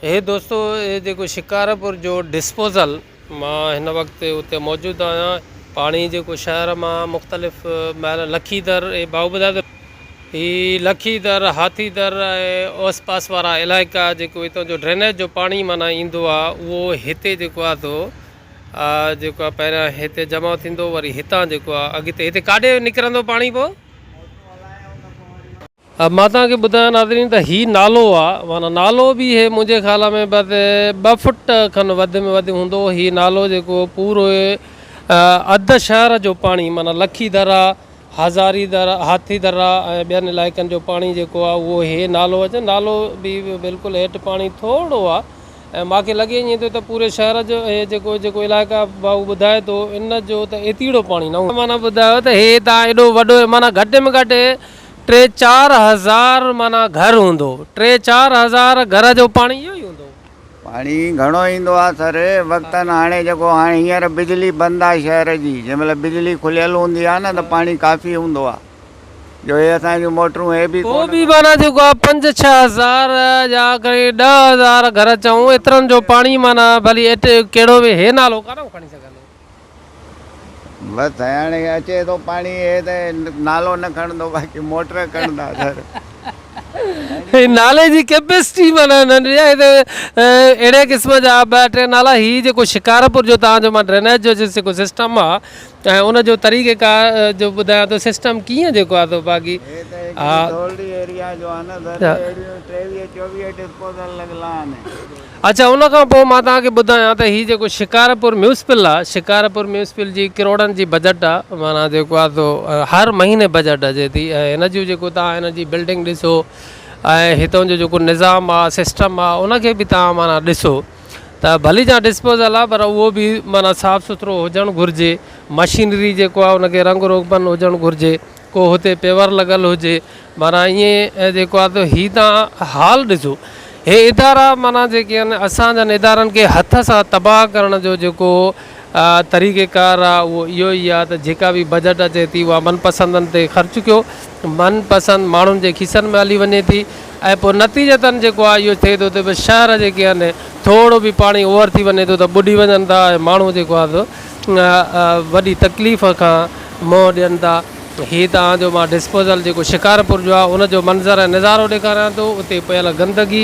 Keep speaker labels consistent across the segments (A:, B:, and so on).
A: هي دوستو هي جيڪو شڪارپور جو ڊسپوزل مان هن وقت اتي موجود آهيان پاڻي جيڪو شهر مان مختلف مهل لکي در اي باو ٻڌايو ته هي لکي در هاٿي در ۽ اوس پاس وارا علائقا جيڪو هتان جو ڊرينيج جو پاڻي معنيٰ ايندو آ اهو هتي جيڪو آ تو جيڪو آ پهريان هتي جمع ٿيندو وري هتان جيڪو آ اڳتي هتي ڪاڏي نڪرندو پاڻي پو مان توهان کي ٻڌايان ناظرين ته هي نالو آ معنيٰ نالو به هي منهنجي خيال ۾ بس ٻه فٽ کن وڌ ۾ وڌ هوندو هي نالو جيڪو پورو اڌ شهر جو پاڻي معنيٰ لکي درا هزاري در هاٿي درا ۽ ٻين علائقن جو پاڻي جيڪو آ اهو هي نالو اچ نالو به بلڪل هيٺ پاڻي ٿورڙو آ ۽ مان کي لڳي ائين ٿو ته پوري شهر جو هي جيڪو جيڪو علائقا ڀائو ٻڌائي ٿو ان جو ته ايتيڙو پاڻي نه هوندو معنيٰ ٻڌايو ته هي تان ايڏو وڏو معنيٰ گهٽ ۾ گهٽ ٽي چار هزار معنيٰ گهر هوندو. ٽي چار هزار گهر جو پاڻي اهو ئي هوندو. پاڻي
B: گهڻو ايندو آ سر وقتن هاڻي جيڪو هاڻي هينئر بجلي بند آ شهر جي جنهن مهل بجلي کليل هوندي آ نه ته پاڻي ڪافي هوندو آ جو هي اسان جون موٽرون هي به ڪو به معنيٰ جيڪو آ پنج
A: ڇهه هزار يا کڻي ڏهه هزار گهر چئون ايترن جو پاڻي معنيٰ ڀلي ايٽ ڪهڙو به هي نالو ڪانه کڻي سگهندو. بس
B: هاڻي اچي ٿو پاڻي هي ته نالو نه کڻندو باقي موٽر کڻندا سر. هي نالي
A: جي ڪيپيسٽي معنيٰ ننڍڙي آهي ته اهڙي قسم جا ٻه ٽي نالا هي جيڪو شڪارپور جو تان جو مان ڊرينيج جو جيڪو سسٽم آ ۽ ان جو طريقه ڪار جو ٻڌايان ٿو سسٽم ڪيئن جيڪو آ تو باقي ها.
B: اچا ان کان پوء
A: مان توهان کي ٻڌايان ته هي جيڪو شڪارپور ميونسپل آ شڪارپور ميونسپل جي ڪروڙن جي بجيٽ آ معنيٰ جيڪو آ سو هر مهيني بجيٽ اچي ٿي ۽ هن جون جيڪو توهان هن جي بلڊنگ ڏسو ۽ هتان جو جيڪو نظام آ سسٽم آ ان کي به توهان معنيٰ ڏسو ته ڀلي جا ڊسپوزل آ پر اهو به معنيٰ صاف سٿرو هجڻ گهرجي مشينري جيڪو آ ان کي رنگ روغن هجڻ گهرجي ڪو هتي پيور لڳل هجي معنيٰ ائين جيڪو آ ته هي تان حال ڏسو هي ادارا معنيٰ جيڪي آهن اسان جن ادارن کي هٿ سان تباهه ڪرڻ جو جيڪو طريقي ڪار آ اهو اهو ئي آ ته جيڪا به بجيٽ اچي ٿي اها من پسندن تي خرچ ڪيو من پسند ماڻهن جي کيسن ۾ هلي وڃي ٿي ۽ پوء نتيجتن جيڪو آ اهو ٿئي ٿو ته شهر جيڪي آهن ٿورڙو به پاڻي اوور ٿي وڃي ٿو ته ٻڏي وڃن ٿا ۽ ماڻهو جيڪو آ سو وڏي تڪليف کان منهن ڏين ٿا هي توهان جو مان ڊسپوزل جيڪو شڪارپور جو آهي ان جو منظر ۽ نظارو ڏيکاريان ٿو اتي پيل گندگي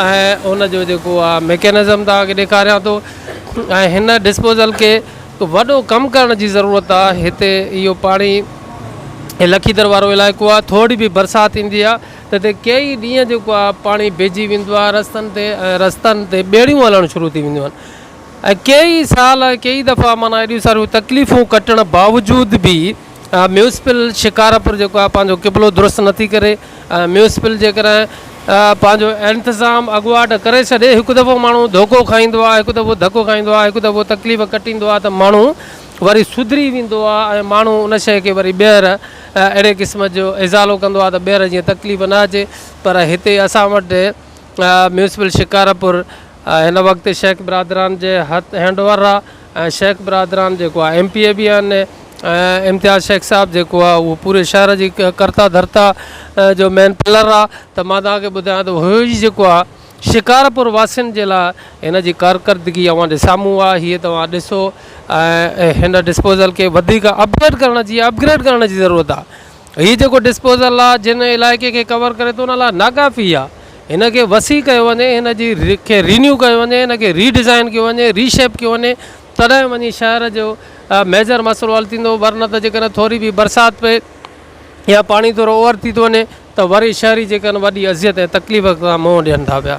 A: ۽ ان جو جيڪو آهي ميڪينزم توهان کي ڏيکاريان ٿو ۽ هن ڊسپوزل کي وڏو ڪم ڪرڻ جي ضرورت آهي هتي اهو پاڻي هي لکيدر وارو علائقو آهي ٿورڙي به برسات ٿيندي آهي ته هتي ڪيئي ڏينهن جيڪو آهي پاڻي بيهجي ويندو آهي رستن تي ۽ رستن تي ٻيڙيون هلڻ شروع ٿي وينديون آهن ۽ ڪيئي سال ۽ ڪيئي دفعا معنيٰ ايڏيون ساريون تڪليفون ڪٽڻ باوجود به ميونسپل شڪارپور جيڪو آهي پنهنجو قبلو درست نه ٿي ڪري ۽ ميونسپل جيڪڏهن پنهنجو انتظام اڳواٽ ڪري ڇڏي هڪ دفعو ماڻهو ڌوڪو کائيندو آهي هڪ دفعو ڌڪو کائيندو آهي هڪ دفعو تڪليف ڪٽيندو آهي ته ماڻهو وري سڌري ويندو آهي ۽ ماڻهو ان شيء کي وري ٻيهر اهڙي قسم جو ازالو ڪندو آهي ته ٻيهر جيئن تڪليف نه اچي پر هتي اسان وٽ ميونسپل شڪارپور هن وقت شيخ برادران جي هٿ هينڊ اوور آ ۽ شيخ برادران جيڪو آ ايم پي اي به آهن ۽ امتياز شيخ صاحب جيڪو آ اهو پوري شهر جي ڪرتا ڌرتا جو مين پلر آ ته مان توهان کي ٻڌايان ته هو ئي جيڪو آ شڪارپور واسين جي لاء هن جي ڪارڪردگي اوهان جي سامهون آ هيء توهان ڏسو ۽ هن ڊسپوزل کي وڌيڪ اپڊيٽ ڪرڻ جي اپگريڊ ڪرڻ جي ضرورت آ هي جيڪو ڊسپوزل لا جنهن علائقي کي ڪور ڪري ٿو ان لا ناڪافي آهي هن کي وسيع ڪيو وڃي هن جي کي رينيو ڪيو وڃي هن کي ري ڊزائن ڪيو وڃي ري شيپ ڪيو وڃي تڏهن وڃي شهر جو ميجر مسئلو حل ٿيندو ورنه ته جيڪڏهن ٿوري به برسات پئي يا پاڻي ٿورو اوور ٿي ٿو وڃي ته وري شهري جيڪڏهن وڏي اذيت ۽ تڪليف کان منهن ڏين ٿا پيا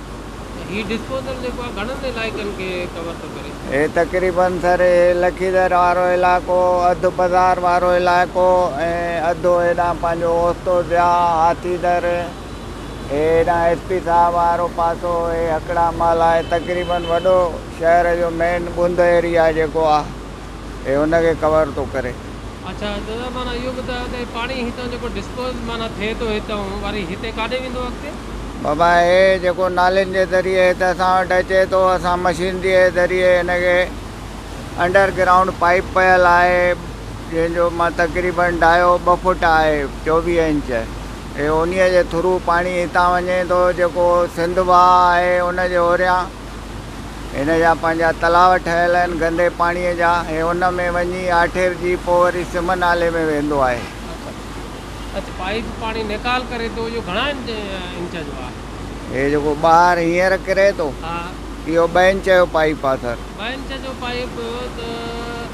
B: ته هي ڊسپوزل جيڪو آهي
A: گهڻن علائقن کي ڪور ٿو ڪري. هي تقريبن
B: سري لکيدر وارو علائقو، اڌ بزار وارو علائقو ۽ اڌ هيڏانهن پنهنجو اوستو ضياء، هاٿي در، هي هيڏانهن ايس پي صاحب وارو پاسو، هي هڪڙا محلا، هي تقريبن وڏو شهر جو مين ٻنڌ ايريا جيڪو آهي. هي ان کي ڪور ٿو ڪري. اڇا دادا
A: معنيٰ اهو ٻڌايو ته هي پاڻي هتان جيڪو ڊسپوز معنيٰ ٿئي ٿو هتان وري هتي ڪاڏي ويندو اڳتي؟ بابا هي
B: جيڪو نالين جي ذريعي هت اسان وٽ اچي ٿو اسان مشينري جي ذريعي هن کي انڊر گرائونڊ پائيپ پيل آهي جنهن جو مان تقريباً ڊايو ٻه فوٽ آهي چوويهه انچ هي انهي جي ٿرو پاڻي هتان وڃي ٿو جيڪو سنڌ واهه آهي ان جي اوريان هن جا پنهنجا تلاء ٺهيل آهن گندي پاڻيء جا ۽ ان ۾ وڃي آٺيرجي پوء وري سم نالي ۾ ويندو آهي. اڇا
A: اڇا پائيپ پاڻي نيڪال ڪري ٿو اهو گهڻا
B: انچ جو آهي. هي جيڪو ٻاهر هينئر ڪري ٿو اهو
A: ٻه انچ
B: جو پائيپ آهي سر. ٻه انچ جو پائيپ
A: ته.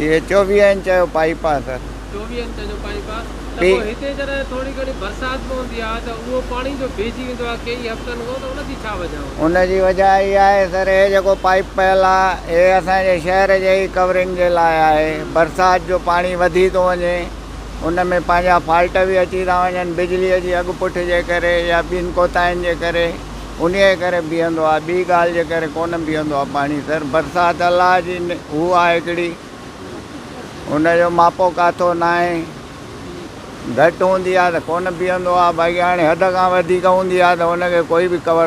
A: اهي چوويهه انچ
B: جو پائيپ آهي سر.
A: ان جي وجهه اها
B: آهي سر هي جيڪو پائيپ پيل آهي هي اسان جي شهر جي ئي ڪورنگ جي لاء آهي برسات جو پاڻي وڌي ٿو وڃي ان ۾ پنهنجا فالٽ به اچي ٿا وڃن بجلي جي اڳ پٺ جي ڪري يا ٻين ڪوتاهين جي ڪري انهيء ڪري بيهندو آهي، ٻي ڳالهه جي ڪري ڪونه بيهندو آهي پاڻي سر. برسات الله جي هو آهي هڪڙي، ان جو ماپو ڪاٿو ناهي. گهٽ هوندي آهي ته ڪونه بيهندو آهي، باقي هاڻي حد کان وڌيڪ هوندي آهي ته ان کي ڪوئي به ڪور.